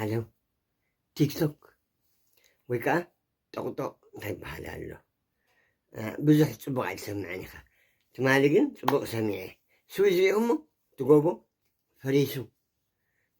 ዓለም ቲክቶክ ወይ ከዓ ጠቕጦቕ እንታይ ይበሃል ኣሎ ብዙሕ ፅቡቕ ኣይትሰምዐን ኢኻ ትማሊ ግን ፅቡቕ ሰሚዐ ስዊዝ ሪኦ እሞ ትጎቦ ፈሪሱ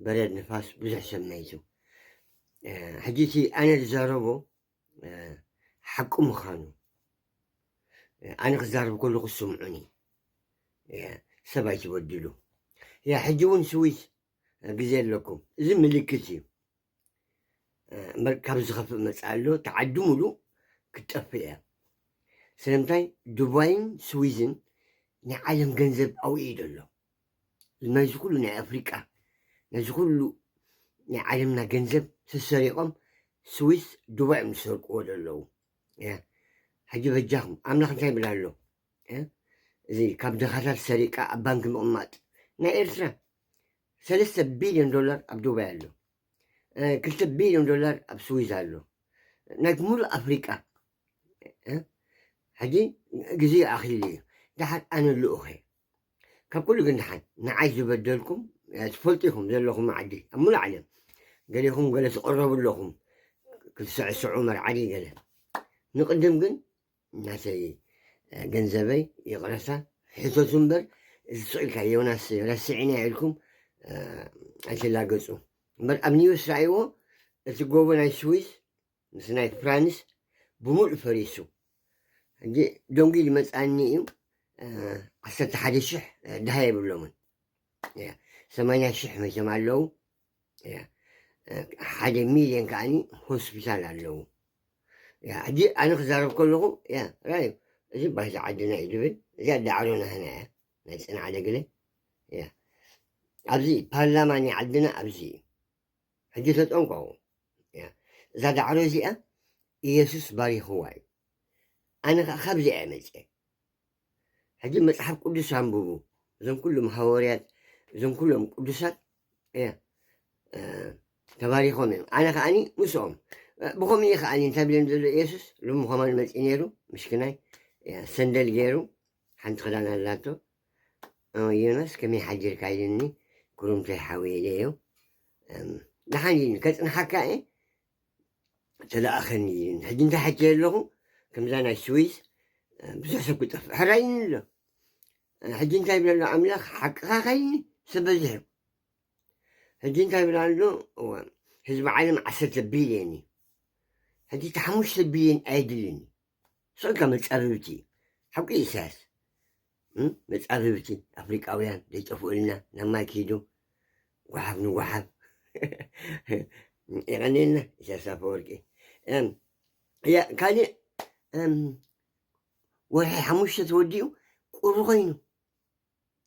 በረድ ንፋስ ብዙሕ ሰመይቱ ሕጂ እቲ ኣነ ዝዛረቦ ሓቂ ምዃኑ ኣነ ክዛረብ ከለኹ ስምዑኒ ሰብ ኣይትበድሉ ያ ሕጂ እውን ስዊስ ግዜ ኣለኩም እዚ ምልክት እዩ እምበር ካብ ዝኸፍእ መፅእ ኣሎ ተዓዲ ሙሉ ክትጠፍእ እያ ስለምንታይ ዱባይን ስዊዝን ናይ ዓለም ገንዘብ ኣብኡ እዩ ዘሎ ናይዚ ኩሉ ናይ ኣፍሪቃ ናይዚ ኩሉ ናይ ዓለምና ገንዘብ ሰሰሪቆም ስዊስ ዱባይ እዮም ዝሰርቅዎ ዘለዉ ሕጂ በጃኹም ኣምላኽ እንታይ ይብል ኣሎ እዚ ካብ ድኻታት ሰሪቃ ኣብ ባንኪ ምቕማጥ ናይ ኤርትራ ሰለስተ ቢልዮን ዶላር ኣብ ዱባይ ኣሎ ክልተ ቢልዮን ዶላር ኣብ ስዊዝ ኣሎ ናይ ሙሉእ ኣፍሪቃ ሕጂ ግዜ ኣኺሉ እዩ ድሓር ኣነ ልኡኸ ካብ ኩሉ ግን ደሓን ንዓይ ዝበደልኩም ትፈልጡ ኢኹም ዘለኹም ዓዲ ኣብ ሙሉእ ዓለም ገሌኹም ገለ ትቕረቡ ኣለኹም ክትስዕስዑ መርዓዲ ገለ ንቕድም ግን ናተይ ገንዘበይ ይቕረታ ሕተቱ እምበር እዚ ስቕኢልካ ዮናስ ረሲዕና ኢልኩም ኣይትላገፁ እምበር ኣብ ኒውስ ረኣይዎ እቲ ጎቦ ናይ ስዊስ ምስ ናይት ፕራንስ ብምሉእ ፈሪሱ ሕጂ ደንጉዩ ዝመፅኣኒ እዩ ዓሰርተ ሓደ ሽሕ ድሃ የብሎምን ሰማንያ ሽሕ መቸም ኣለዉ ሓደ ሚልዮን ከዓኒ ሆስፒታል ኣለዉ ሕጂ ኣነ ክዛረብ ከለኹ ራዩ እዚ ባህሊ ዓድና እዩ ዝብል እዚኣ ዳዕሮ ናህና እያ ናይ ፅንዓደ ግለ ኣብዚ ፓርላማ ናይ ዓድና ኣብዚ እዩ ሕጂ ተጠንቀቑ፣ እዛ ዳዕሮ እዚኣ ኢየሱስ ባሪኽዋ እዩ፣ ኣነ ኸኣ ካብዚኣ እየ መጺኤ። ሕጂ መጽሓፍ ቅዱስ ኣንብቡ፣ እዞም ኩሎም ሃወርያት እዞም ኩሎም ቅዱሳት እያ ተባሪኾም እዮም፣ ኣነ ከኣኒ ምስኦም ብኸምኡ እዩ ከኣኒ እንታይ ብልም ዘሎ ኢየሱስ ሎሚ ኸማን መጺእ ነይሩ ምሽክናይ ሰንደል ገይሩ ሓንቲ ክዳን ኣላቶ ዮናስ ከመይ ሓዲርካ ኢሉኒ ጉሩምተይ ሓወይ ኢለዮ ደሓን ኢሉኒ ከፅንሓካ እየ ተለኣኸኒ ኢሉኒ ሕጂ እንታይ ሓትዮ ኣለኹ ከምዛ ናይ ስዊስ ብዙሕ ሰብ ክጠፍእ ሕራይ ኣሎ ሕጂ እንታይ ይብለሎ ኣምላኽ ሓቅኻ ከይኒ ሰብ በዚሑ ሕጂ እንታይ ይብላ ኣሎ ህዝቢ ዓለም ዓሰርተ ቢልዮን እዩ ሕጂ እቲ ሓሙሽተ ቢልዮን ኣየድልን እዩ ንስካ መጻብብቲ ሓቁ እዩ ኢሳያስ መጻብብቲ ኣፍሪቃውያን ዘይጠፍኡልና ናብ ማይ ክይዱ ጓሓፍ ንጓሓፍ የቀንየልና ኢሳያስ ኣፈወርቂ ካልእ ወርሒ ሓሙሽተ ተወዲኡ ቁሪ ኮይኑ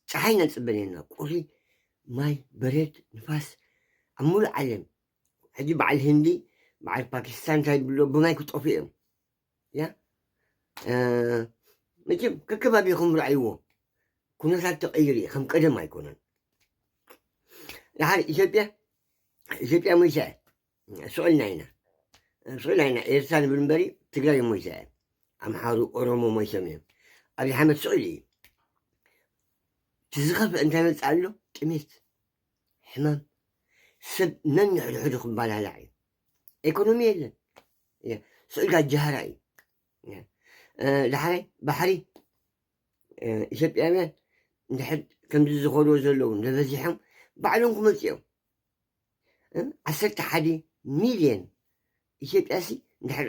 ፀሓይ ነፅበ ነና ቁሪ ማይ በረድ ንፋስ ኣብ ሙሉእ ዓለም ሕጂ በዓል ህንዲ በዓል ፓኪስታን እንታይ ብሎ ብማይ ክጠፍኡ እዮም ያ መቸም ከከባቢኹም ርኣይዎ ኩነታት ተቐይሩ እዩ ከም ቀደም ኣይኮነን ድሓር ኢትዮጵያ ኢትዮጵያ ሞይታ እያ ስዑልና ኢና ስዑልና ኢና ኤርትራ ንብል እምበሪ ትግራይ ሞይታ እያ ኣምሓሩ ኦሮሞ ሞይቶም እዮም ኣብዪ ሓመድ ስዑል እዩ ትዝኸፍ እንታይ መጽ ኣሎ ጥሜት ሕማም ሰብ ነንሕድሕዱ ክባላላዕ እዩ ኢኮኖሚ የለን ስዑዲ ኣጃሃራ እዩ ዳሕራይ ባሕሪ ኢትዮጵያውያን እንድሕር ከምዚ ዝኸድዎ ዘለዉ እንተበዚሖም ባዕሎም ክመፁ እዮም ዓሰርተ ሓደ ሚልዮን ኢትዮጵያሲ እንድሕር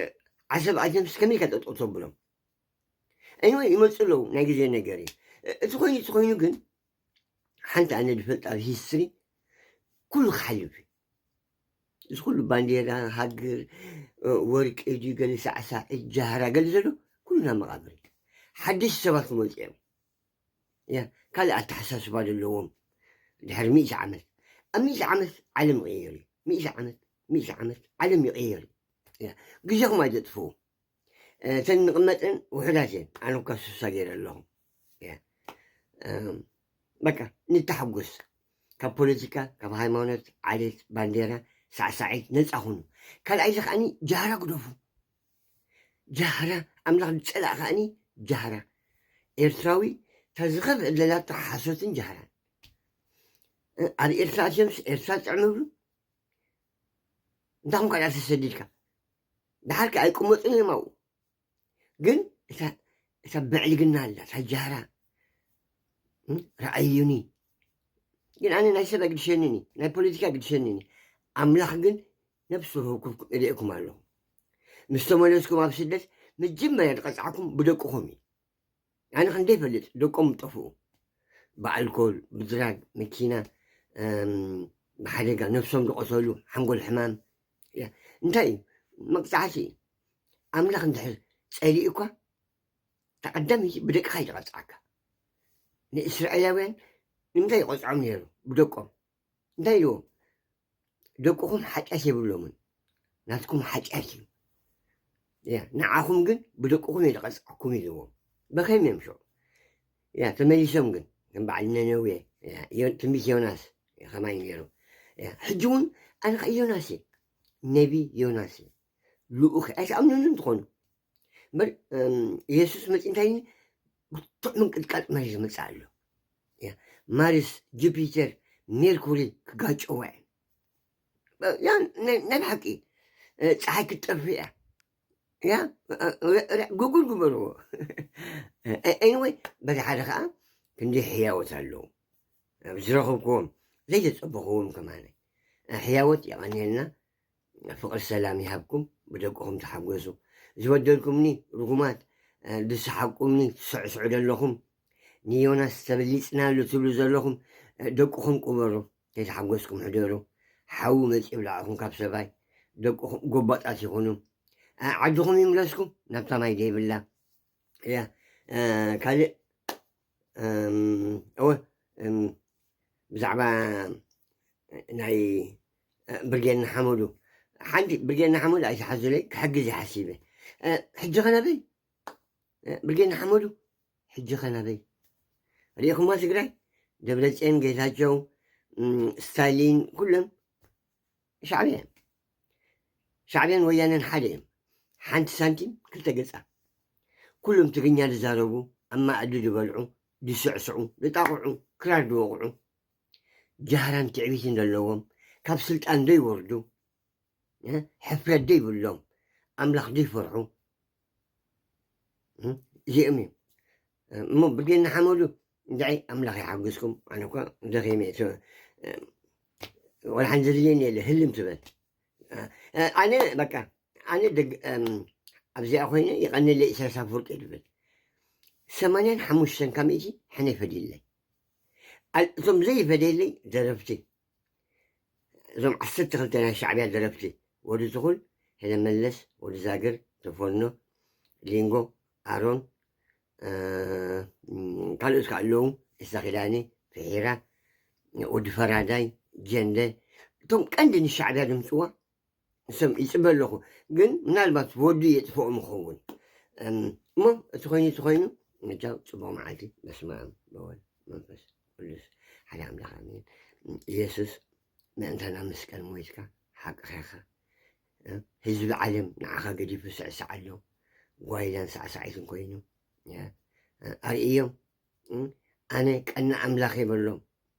ዓሰብ ኣትዮምስ ከመይ ኢልካ ጠጠው ተብሎም እኒወ ይመፁ ኣለዉ ናይ ግዜ ነገር እዩ እቲ ኮይኑ እቲ ኮይኑ ግን ሓንቲ ኣነ ዝፈልጣ ኣብ ሂስትሪ ኩሉ ክሓልፍ እዩ እዚ ኩሉ ባንዴራ ሃገር ወርቂ እጅ ገለ ሳዕሳዕ ጃህራ ገለ ዘሎ ኩሉ ናብ መቓብር ሓደሽቲ ሰባት ክመፁ እዮም እያ ካልእ ኣተሓሳስባ ዘለዎም ድሕሪ ሚእቲ ዓመት ኣብ ሚእቲ ዓመት ዓለም ይቕየር እዩ ሚእቲ ዓመት ሚእቲ ዓመት ዓለም ይቕየር እዩ ግዜኹም ኣይተጥፍኡ እተን ንቕመጠን ውሑዳት እየን ኣነ እኳ ስሳ ገይረ ኣለኹ በቃ ንተሓጎስ ካብ ፖለቲካ ካብ ሃይማኖት ዓሌት ባንዴራ ሳዕሳዒት ነፃ ኹኑ ካልኣይ እዚ ከዓኒ ጃህራ ግደፉ ጃህራ ኣምላኽ ዝፀላእ ከዓኒ ጃህራ ኤርትራዊ ተዝኸፍ ዕለላ ሓሶትን ጃህራን ኣብ ኤርትራ ኣትዮምስ ኤርትራ ጥዕምብሉ እንታይ ኹንካ ድኣ ተሰዲድካ ድሓር ከ ኣይቅመጡን እዮም ኣብኡ ግን እታ እታ ብዕልግና ኣላ እታ ጃህራ እም፣ ረኣዩኒ ግን ኣነ ናይ ሰብ ኣይግድሸንን እዩ ናይ ፖለቲካ ኣይግድሸንን እዩ ኣምላኽ ግን ነብሲ ወከፍኩም እርእየኩም ኣለኹ ምስ ተመለስኩም ኣብ ስደት መጀመርያ ዝቐፅዓኩም ብደቅኹም እዩ ኣነ ክንደይ ይፈልጥ ደቆም ጠፍኡ ብኣልኮል ብድራግ መኪና ብሓደጋ ነብሶም ዝቆሰሉ ሓንጎል ሕማም እንታይ እዩ መቅፃዕቲ እዩ ኣምላኽ እንድሕር ፀሊኡ እኳ ተቀዳሚቲ ብደቅኻ ይተቐፅዓካ ንእስራኤላውያን ንምንታይ ይቆፅዖም ነይሩ ብደቆም እንታይ ኢልዎም ደቅኹም ሓጢኣት የብሎምን ናትኩም ሓጢኣት እዩ ያ ንዓኹም ግን ብደቅኹም እዩ ዝቐፅዓኩም ኢልዎም በኸይም እዮም ሸው ያ ተመሊሶም ግን ከም በዓል ነነዌ ትንቢት ዮናስ ከማይ ነይሩ ሕጂ እውን ኣነ ከ ዮናስ እየ ነቢ ዮናስ እየ ልኡኽ ኣይትኣምኑን እንትኾኑ እምበር ኢየሱስ መፂ እንታይ ብርቱዕ ምንቅጥቃጥ መሬት ዝመፅእ ኣሎ ማርስ ጁፒተር ሜርኩሪ ክጋጨዋ እየን ናይ ብሓቂ ፀሓይ ክትጠፍእ እያ ያ ጉጉል ግበርዎ ኤኒወይ በዚ ሓደ ከዓ ክንዲ ሕያወት ኣለዉ ኣብ ዝረኸብክዎም ዘይተፀበኽዎም ከማነ ሕያወት የቐንየልና ፍቅሪ ሰላም ይሃብኩም ብደቅኹም ተሓጎሱ ዝበደልኩምኒ ርጉማት ዝሰሓቅኩምኒ ትስዕስዑ ዘለኹም ንዮናስ ተበሊጽናሉ ትብሉ ዘለኹም ደቅኹም ቁበሩ ከይተሓጎስኩም ሕደሩ ሓዊ መጽ ይብላዕኹም ካብ ሰባይ ደቅኹም ጎባጣት ይኹኑ ዓድኹም ይምለስኩም ናብታ ማይ ዘይብላ እያ ካልእ እወ ብዛዕባ ናይ ብርጌድ ንሓመዱ ሓንቲ ብርጌድ ንሓመዱ ኣይትሓዙለይ ክሕግዝ ይሓሲበ ሕጂ ኸናበይ ብርጌድ ንሓመዱ ሕጂ ኸናበይ ሪኢኹማ ትግራይ ደብረፅዮን ጌታቸው ስታሊን ኩሎም ሻዕብያ ሻዕብያን ወያነን ሓደ እዮም ሓንቲ ሳንቲም ክልተ ገጻ ኩሎም ትግርኛ ዝዛረቡ ኣብ ማኣዲ ዝበልዑ ዝስዕስዑ ዝጣቕዑ ክራር ዝወቕዑ ጃህራን ትዕቢትን ዘለዎም ካብ ስልጣን ዘይወርዱ ሕፍረት ዘይብሎም ኣምላኽ ዘይፈርሑ እዚኦም እዮም እሞ ብልጌና ሓመዱ እንታይ ኣምላኽ ይሓግዝኩም ኣነ እኳ ደኺመ ወላ ሓን ዘድልየኒ የለ ህልም ትበል ኣነ በቃ ኣነ ኣብዚኣ ኮይነ ይቐንለ ኢሳያስ ኣፈወርቂ ትብል ሰማንያን ሓሙሽተን ካብ ሚእቲ ሕነ ይፈድየለይ እቶም ዘይፈደየለይ ደረፍቲ እዞም ዓሰርተ ክልተ ናይ ሻዕብያ ደረፍቲ ወዲ ትኹል ሕነ መለስ ወዲ ዛግር ተፎኖ ሊንጎ ኣሮን ካልኦት ከዓ ኣለዉ እሳ ኪዳኒ ፍሒራ ወዲ ፈራዳይ ጀንደ እቶም ቀንዲ ንሻዕብያ ድምፅዋ ሰም ይፅበ ኣለኹ ግን ምናልባት ወዱ የጥፍኦ ምኸውን እሞ እቲ ኮይኑ እቲ ኮይኑ ምጃው ፅቡቅ መዓልቲ በስመ ኣብ በወልድ መንፈስ ቅዱስ ሓደ ኣምላኽ ኣሜን ኢየሱስ ምእንታና መስቀል ሞይትካ ሓቅኻ ኢኻ ህዝቢ ዓለም ንዓኻ ገዲፉ ስዕስዕ ኣሎ ጓይላን ሳዕሳዒትን ኮይኑ ኣርእዮም ኣነ ቀና ኣምላኽ የበሎም